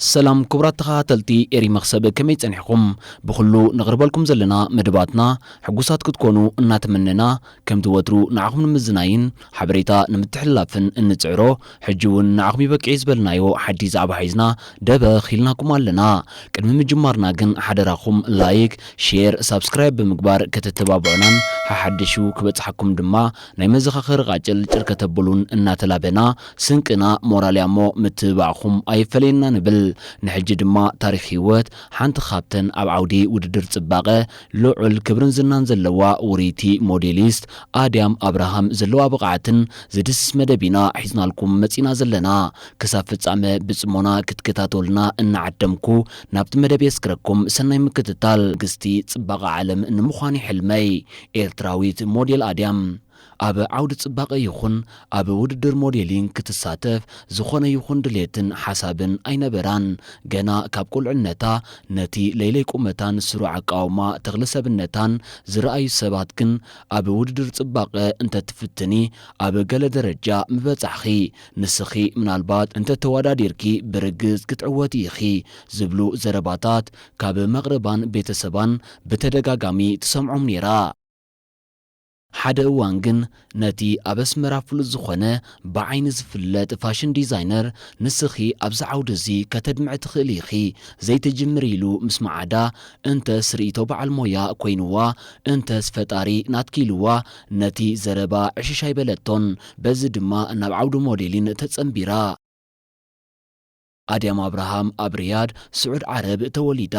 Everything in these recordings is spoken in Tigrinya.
ሰላም ኩቡራት ተኻታተልቲ ኤሪ መኽሰብ ከመይ ጸኒሕኹም ብኹሉ ነቕርበልኩም ዘለና መደባትና ሕጉሳት ክትኮኑ እናተመነና ከምቲ ወትሩ ንዓኹም ንምዝናይን ሓበሬታ ንምትሕልላፍን እንጽዕሮ ሕጂ ውን ንዓኹም ይበቅዒ ዝበልናዮ ሓድሽ ዛዕባ ሒዝና ደበኽ ኢልናኩም ኣለና ቅድሚ ምጅማርና ግን ሓደራኹም ላይክ ሼር ሳብስክራይብ ብምግባር ከተተባብዑናን ሓሓደሹ ክበጽሓኩም ድማ ናይ መዘኻኸሪ ቃጭል ጭር ከተብሉን እናተላበና ስንቅና ሞራልያሞ ምትብባዕኹም ኣይፈለየና ንብል። ንሕጂ ድማ ታሪኽ ህይወት ሓንቲ ካብተን ኣብ ዓውዲ ውድድር ጽባቐ ልዑል ክብርን ዝናን ዘለዋ ውርይቲ ሞዴሊስት ኣድያም ኣብርሃም ዘለዋ ብቕዓትን ዝድስስ መደብ ኢና ሒዝናልኩም መጺእና ዘለና። ክሳብ ፍጻመ ብጽሞና ክትከታተሉና እናዓደምኩ ናብቲ መደብ የስግረኩም። ሰናይ ምክትታል። ንግስቲ ጽባቐ ዓለም ንምዃን'ዩ ሕልመይ። ኤርትራዊት ሞዴል ኣድያም፣ ኣብ ዓውዲ ጽባቐ ይኹን ኣብ ውድድር ሞዴሊንግ ክትሳተፍ ዝኾነ ይኹን ድሌትን ሓሳብን ኣይነበራን። ገና ካብ ቁልዕነታ ነቲ ለይለይ ቁመታን ስሩዕ ኣቃውማ ተኽለ ሰብነታን ዝረኣዩ ሰባት ግን ኣብ ውድድር ጽባቐ እንተትፍትኒ ኣብ ገለ ደረጃ ምበጻሕኺ፣ ንስኺ ምናልባት እንተተወዳዲርኪ ብርግጽ ክትዕወቲ ኢኺ ዝብሉ ዘረባታት ካብ መቕርባን ቤተሰባን ብተደጋጋሚ ትሰምዖም ነይራ። ሓደ እዋን ግን ነቲ ኣብ ኣስመራ ፍሉጥ ዝኾነ ብዓይኒ ዝፍለጥ ፋሽን ዲዛይነር ንስኺ ኣብዚ ዓውዲ እዚ ከተድምዒ ትኽእሊ ኢኺ ዘይትጅምሪ ኢሉ ምስ መዓዳ እንተስ ርእይቶ በዓል ሞያ ኮይኑዋ እንተስ ፈጣሪ ናትኪ ኢሉዋ ነቲ ዘረባ ዕሽሽ ኣይበለቶን በዚ ድማ ናብ ዓውዲ ሞዴሊን ተጸንቢራ። ኣድያም ኣብርሃም ኣብ ሪያድ ስዑድ ዓረብ ተወሊዳ።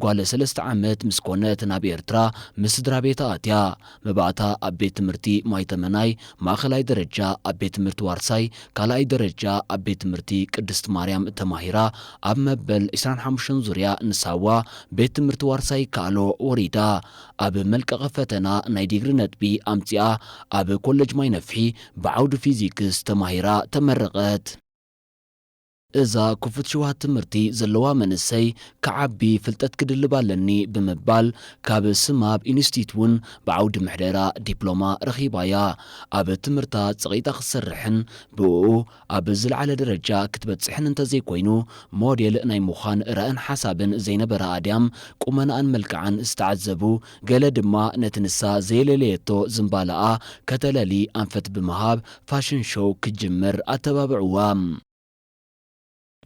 ጓል ሰለስተ ዓመት ምስ ኮነት ናብ ኤርትራ ምስ ስድራቤታ ኣትያ። መባእታ ኣብ ቤት ትምህርቲ ማይ ተመናይ ማእኸላይ ደረጃ ኣብ ቤት ትምህርቲ ዋርሳይ ካልኣይ ደረጃ ኣብ ቤት ትምህርቲ ቅድስት ማርያም ተማሂራ ኣብ መበል ዕስራን ሓሙሽተን ዙርያ ንሳዋ ቤት ትምህርቲ ዋርሳይ ይከኣሎ ወሪዳ ኣብ መልቀቒ ፈተና ናይ ዲግሪ ነጥቢ ኣምፂኣ ኣብ ኮለጅ ማይነፍሒ ብዓውዲ ፊዚክስ ተማሂራ ተመረቐት። እዛ ክፉት ሽውሃት ትምህርቲ ዘለዋ መንእሰይ ክዓቢ ፍልጠት ክድልብ ኣለኒ ብምባል ካብ ስማብ ኢንስቲት ውን ብዓውዲ ምሕደራ ዲፕሎማ ረኺባ እያ። ኣብ ትምህርታ ጸቒጣ ክትሰርሕን ብእኡ ኣብ ዝለዓለ ደረጃ ክትበጽሕን እንተዘይኮይኑ ሞዴል ናይ ምዃን ራእን ሓሳብን ዘይነበራ ኣድያም ቁመናኣን መልክዓን ዝተዓዘቡ ገለ ድማ ነቲ ንሳ ዘየለለየቶ ዝምባለኣ ከተለሊ ኣንፈት ብምሃብ ፋሽን ሾው ክትጅምር ኣተባብዕዋ።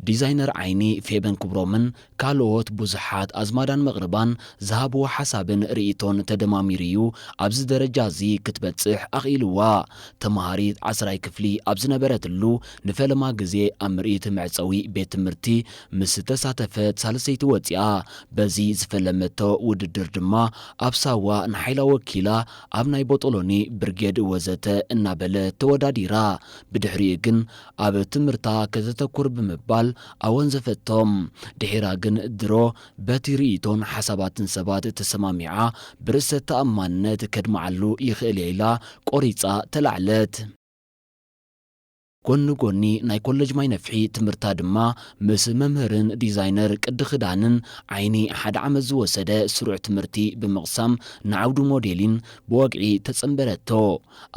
ዲዛይነር ዓይኒ ፌበን ክብሮምን ካልኦት ብዙሓት ኣዝማዳን መቕርባን ዝሃብዎ ሓሳብን ርእይቶን ተደማሚሩ'ዩ ኣብዚ ደረጃ እዚ ክትበጽሕ ኣኽኢልዋ። ተመሃሪት ዓስራይ ክፍሊ ኣብ ዝነበረትሉ ንፈለማ ግዜ ኣብ ምርኢት መዕጸዊ ቤት ትምህርቲ ምስ ዝተሳተፈት ሳልሰይቲ ወጺኣ። በዚ ዝፈለመቶ ውድድር ድማ ኣብ ሳዋ ንሓይላ ወኪላ ኣብ ናይ ቦጦሎኒ፣ ብርጌድ ወዘተ እናበለት ተወዳዲራ። ብድሕሪኡ ግን ኣብ ትምህርታ ከተተኩር ብምባል ኣወንዘፈቶ። ድሒራ ግን ድሮ በቲ ርእይቶን ሓሳባትን ሰባት ተሰማሚዓ ብርእሰ ተኣማንነት ከድምዓሉ ይኽእል'የ ኢላ ቆሪጻ ተላዕለት። ጎኒ ጎኒ ናይ ኮለጅ ማይ ነፍሒ ትምህርታ ድማ ምስ መምህርን ዲዛይነር ቅዲ ክዳንን ዓይኒ ሓደ ዓመት ዝወሰደ ስሩዕ ትምህርቲ ብምቕሳም ንዓውዲ ሞዴሊን ብወግዒ ተጸንበረቶ።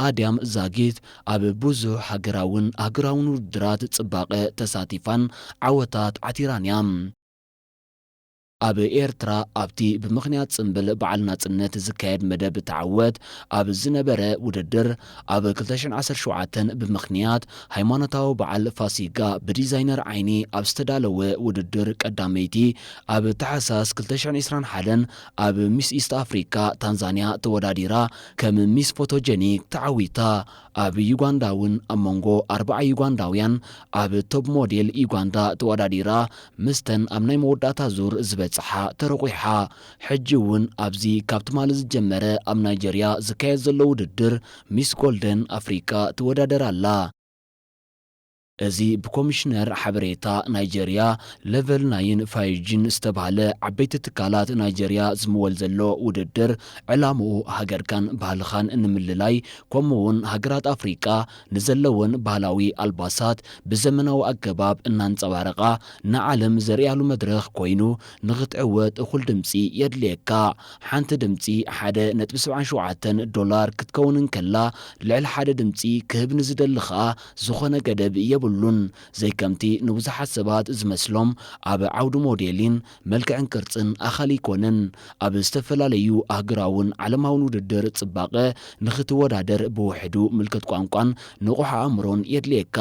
ኣድያም ዛጊት ኣብ ብዙሕ ሃገራውን ኣህጉራውን ውድድራት ጽባቐ ተሳቲፋን ዓወታት ዓቲራን'ያ። ኣብ ኤርትራ ኣብቲ ብምኽንያት ጽምብል በዓል ናጽነት ዝካየድ መደብ ተዓወት ኣብ ዝነበረ ውድድር ኣብ ክልተ ሽሕን ዓሰርተ ሸውዓተን ብምኽንያት ሃይማኖታዊ በዓል ፋሲጋ ብዲዛይነር ዓይኒ ኣብ ዝተዳለወ ውድድር ቀዳመይቲ ኣብ ታሕሳስ ክልተ ሽሕን ዕስራን ሓደን ኣብ ሚስ ኢስት ኣፍሪካ ታንዛንያ ተወዳዲራ ከም ሚስ ፎቶጀኒክ ተዓዊታ ኣብ ዩጋንዳ እውን ኣብ መንጎ ኣርብዓ ዩጋንዳውያን ኣብ ቶፕ ሞዴል ዩጋንዳ ተወዳዲራ ምስተን ኣብ ናይ መወዳእታ ዙር ዝበጽሓ ተረቝሓ። ሕጂ እውን ኣብዚ ካብ ትማሊ ዝጀመረ ኣብ ናይጀርያ ዝካየድ ዘሎ ውድድር ሚስ ጎልደን ኣፍሪቃ ትወዳደር ኣላ። እዚ ብኮሚሽነር ሓበሬታ ናይጀርያ ለቨል ናይን ፋዩጂን ዝተብሃለ ዓበይቲ ትካላት ናይጀርያ ዝምወል ዘሎ ውድድር ዕላምኡ ሃገርካን ባህልኻን ንምልላይ ከምኡ ውን ሃገራት ኣፍሪቃ ንዘለወን ባህላዊ ኣልባሳት ብዘመናዊ ኣገባብ እናንጸባረቓ ንዓለም ዘርእያሉ መድረኽ ኮይኑ ንኽትዕወት እኹል ድምጺ የድልየካ። ሓንቲ ድምጺ ሓደ ነጥቢ ሰብዓን ሸውዓተን ዶላር ክትከውን እንከላ ልዕሊ ሓደ ድምጺ ክህብ ንዝደሊ ከኣ ዝኾነ ገደብ የብሉን፣ ዘይከምቲ ንብዙሓት ሰባት ዝመስሎም ኣብ ዓውዲ ሞዴሊን፣ መልክዕን ቅርጽን ኣኻሊ ኣይኮነን። ኣብ ዝተፈላለዩ ኣህግራውን ዓለማውን ውድድር ጽባቐ ንኽትወዳደር ብውሕዱ ምልክት ቋንቋን ንቑሕ ኣእምሮን የድልየካ።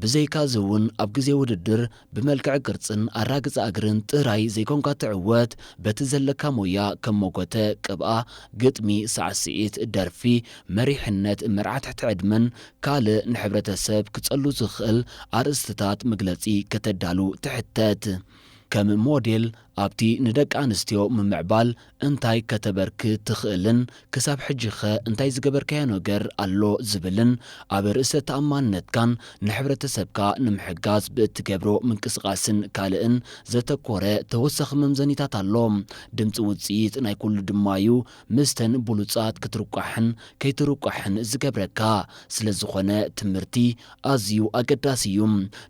ብዘይካ'ዚ እውን ኣብ ግዜ ውድድር ብመልክዕ ቅርጽን ኣራግጻ እግርን ጥራይ ዘይኮንካ ትዕወት፣ በቲ ዘለካ ሞያ ከም ሞጎተ፣ ቅብኣ፣ ግጥሚ፣ ሳዕስዒት፣ ደርፊ፣ መሪሕነት፣ መርዓ ትሕቲ ዕድመን ካልእ ንሕብረተሰብ ክጸሉ ዝኽእል ኣርእስትታት መግለጺ ከተዳሉ ትሕተት። ከም ሞዴል፣ ኣብቲ ንደቂ ኣንስትዮ ምምዕባል እንታይ ከተበርክት ትኽእልን ክሳብ ሕጂ'ኸ እንታይ ዝገበርካዮ ነገር ኣሎ ዝብልን ኣብ ርእሰ ተኣማንነትካን ንሕብረተሰብካ ንምሕጋዝ ብእትገብሮ ምንቅስቓስን ካልእን ዘተኮረ ተወሳኺ መምዘኒታት ኣሎ። ድምጺ ውጽኢት ናይ ኩሉ ድማ'ዩ። ምስተን ብሉጻት ክትርቋሕን ከይትርቋሕን ዝገብረካ ስለ ዝኾነ ትምርቲ ኣዝዩ ኣገዳሲ እዩ።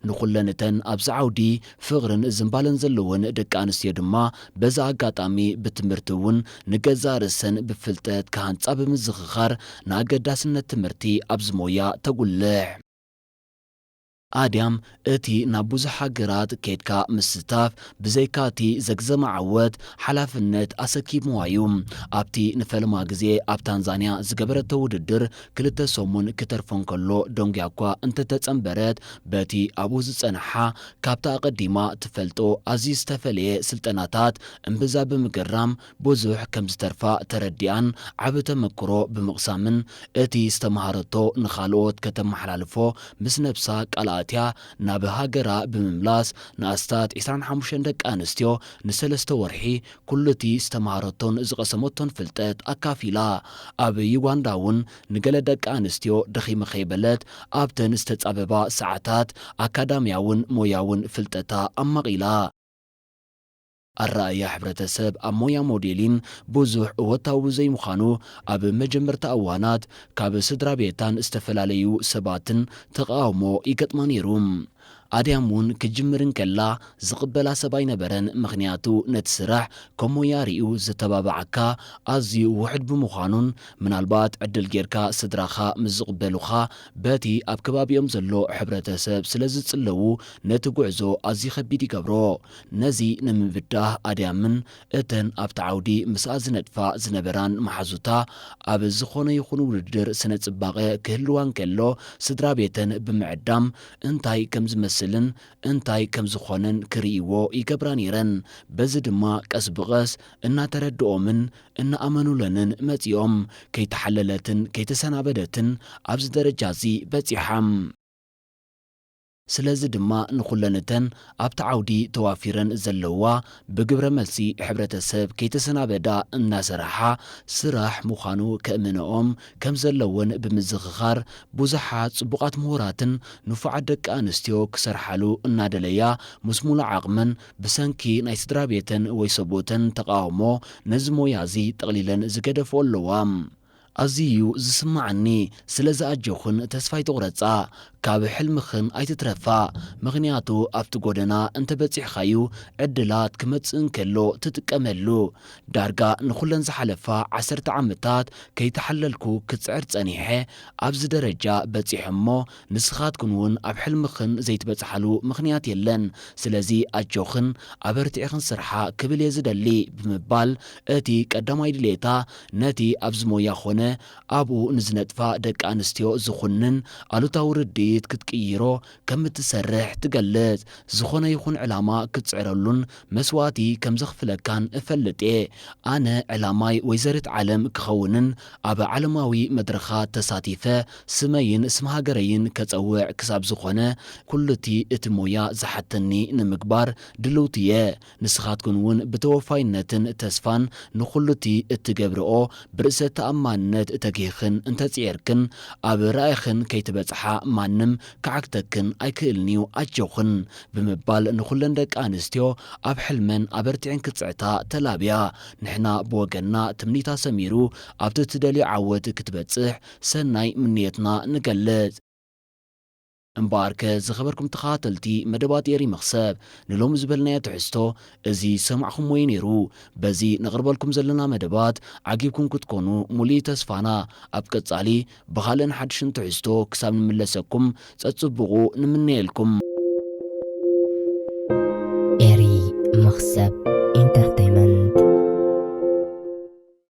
ንኹለን እተን ኣብዚ ዓውዲ ፍቕርን ዝምባለን ዘለወን ደቂ ኣንስትዮ ድማ በዚ ኣጋጣሚ ብትምርቲ እውን ንገዛእ ርእሰን ብፍልጠት ክሃንጻ ብምዝኽኻር ንኣገዳስነት ትምርቲ ኣብዚ ሞያ ተጉልሕ ኣድያም እቲ ናብ ብዙሕ ሃገራት ኬድካ ምስታፍ ብዘይካ እቲ ዘግዘመ ዓወት ሓላፍነት ኣሰኪምዋ እዩ። ኣብቲ ንፈለማ ግዜ ኣብ ታንዛንያ ዝገበረቶ ውድድር ክልተ ሰሙን ክተርፎ እንከሎ ደንጉያ'ኳ እንተተጸንበረት በቲ ኣብኡ ዝጸንሓ ካብቲ ኣቐዲማ ትፈልጦ ኣዝዩ ዝተፈለየ ስልጠናታት እምብዛ ብምግራም ብዙሕ ከም ዝተርፋ ተረዲኣን ዓቢ ተመክሮ ብምቕሳምን እቲ ዝተመሃረቶ ንኻልኦት ከተመሓላልፎ ምስ ነብሳ ቃል ኣእትያ ናብ ሃገራ ብምምላስ ንኣስታት ዕስራን ሓሙሽተን ደቂ ኣንስትዮ ንሰለስተ ወርሒ ኩሉ'ቲ ዝተመሃረቶን ዝቐሰመቶን ፍልጠት ኣካፊላ። ኣብ ዩጋንዳ'ውን ንገለ ደቂ ኣንስትዮ ደኺመ ከይበለት ኣብተን ዝተጻበባ ሰዓታት ኣካዳምያውን ሞያውን ፍልጠታ ኣማቒላ። ኣረኣእያ ሕብረተሰብ ኣብ ሞያ ሞዴሊን ብዙሕ እወታዊ ብዘይምዃኑ፣ ኣብ መጀመርታ እዋናት ካብ ስድራቤታን ዝተፈላለዩ ሰባትን ተቓውሞ ይገጥማ ነይሩ። ኣድያም እውን ክትጅምር እንከላ ዝቕበላ ሰብ ኣይነበረን፣ ምኽንያቱ ነቲ ስራሕ ከም ሞያ ርእዩ ዘተባብዓካ ኣዝዩ ውሑድ ብምዃኑን ምናልባት ዕድል ጌርካ ስድራኻ ምስ ዝቕበሉኻ በቲ ኣብ ከባቢኦም ዘሎ ሕብረተሰብ ስለዝጽለዉ ነቲ ጉዕዞ ኣዝዩ ከቢድ ይገብሮ ነዚ ንምብዳህ ኣድያምን እተን ኣብቲ ዓውዲ ምስኣ ዝነጥፋ ዝነበራን መሓዙታ ኣብ ዝኾነ ይኹን ውድድር ስነ-ጽባቐ ክህልዋ እንከሎ ስድራቤተን ብምዕዳም እንታይ ከም ዝመስልን እንታይ ከም ዝኾነን ክርእይዎ ይገብራ ነይረን። በዚ ድማ ቀስ ብቐስ እናተረድኦምን እናኣመኑለንን መጺኦም። ከይተሓለለትን ከይተሰናበደትን ኣብዚ ደረጃ'ዚ በጺሓ። ስለዚ ድማ ንኹለን እተን ኣብቲ ዓውዲ ተዋፊረን ዘለዋ ብግብረ መልሲ ሕብረተሰብ ከይተሰናበዳ እናሰርሓ ስራሕ ምዃኑ ከእምነኦም ከም ዘለወን ብምዝኽኻር ብዙሓት ፅቡቓት ምሁራትን ንፉዓት ደቂ ኣንስትዮ ክሰርሓሉ እናደለያ ምስ ሙሉእ ዓቕመን ብሰንኪ ናይ ስድራቤተን ወይ ሰብኡተን ተቓውሞ ነዚ ሞያ እዚ ጠቕሊለን ዝገደፍኦ ኣለዋ። ኣዝዩ እዩ ዝስማዓኒ ስለዚ ኣጆኽን ተስፋ ኣይትቑረጻ ካብ ሕልምኽን ኣይትትረፋ ምኽንያቱ ኣብቲ ጎደና እንተ በጺሕኻዩ ዕድላት ክመጽእ እንከሎ ትጥቀመሉ ዳርጋ ንኹለን ዝሓለፋ ዓሰርተ ዓመታት ከይተሓለልኩ ክጽዕር ጸኒሐ ኣብዚ ደረጃ በጺሐ እሞ ንስኻትክን ውን ኣብ ሕልምኽን ዘይትበጽሓሉ ምኽንያት የለን ስለዚ ኣጆኽን ኣበርቲዕኽን ስርሓ ክብል እየ ዝደሊ ብምባል እቲ ቀዳማይ ድሌታ ነቲ ኣብዚ ሞያ ዀነ ኣብኡ ንዝነጥፋ ደቂ ኣንስትዮ ዝዅንን ኣሉታዊ ርድኢት ክትቅይሮ ከም እትሰርሕ ትገልጽ። ዝዀነ ይኹን ዕላማ ክትጽዕረሉን መስዋእቲ ከም ዘኽፍለካን እፈልጥ እየ። ኣነ ዕላማይ ወይዘሪት ዓለም ክኸውንን ኣብ ዓለማዊ መድረኻት ተሳቲፈ ስመይን ስም ሃገረይን ከጸውዕ ክሳብ ዝዀነ ኵሉ'ቲ እቲ ሞያ ዝሓተኒ ንምግባር ድልውቲ እየ። ንስኻትኩን ውን ብተወፋይነትን ተስፋን ንኹሉቲ እትገብርኦ ብርእሰ ተኣማንነት እተጊህክን እንተጽዔርክን ኣብ ራኢኽን ከይትበጽሓ ማንም ክዓግተክን ኣይክእልን'ዩ ኣጆኽን ብምባል ንኹለን ደቂ ኣንስትዮ ኣብ ሕልመን ኣበርቲዕን ክጽዕታ ተላብያ ንሕና ብወገንና ትምኒታ ሰሚሩ ኣብቲ እትደልዮ ዓወት ክትበጽሕ ሰናይ ምንዮትና ንገልጽ። እምበኣርከ ዝኸበርኩም ተኸታተልቲ መደባት ኤሪ መኽሰብ ንሎሚ ዝበልናዮ ትሕዝቶ እዚ ዝሰማዕኹምዎ እዩ ነይሩ። በዚ ነቕርበልኩም ዘለና መደባት ዓጊብኩም ክትኮኑ ሙሉእ እዩ ተስፋና። ኣብ ቀጻሊ ብኻልእን ሓድሽን ትሕዝቶ ክሳብ ንምለሰኩም ጸጽቡቑ ንምነየልኩም። ኤሪ መኽሰብ ኢንተርተይመንት።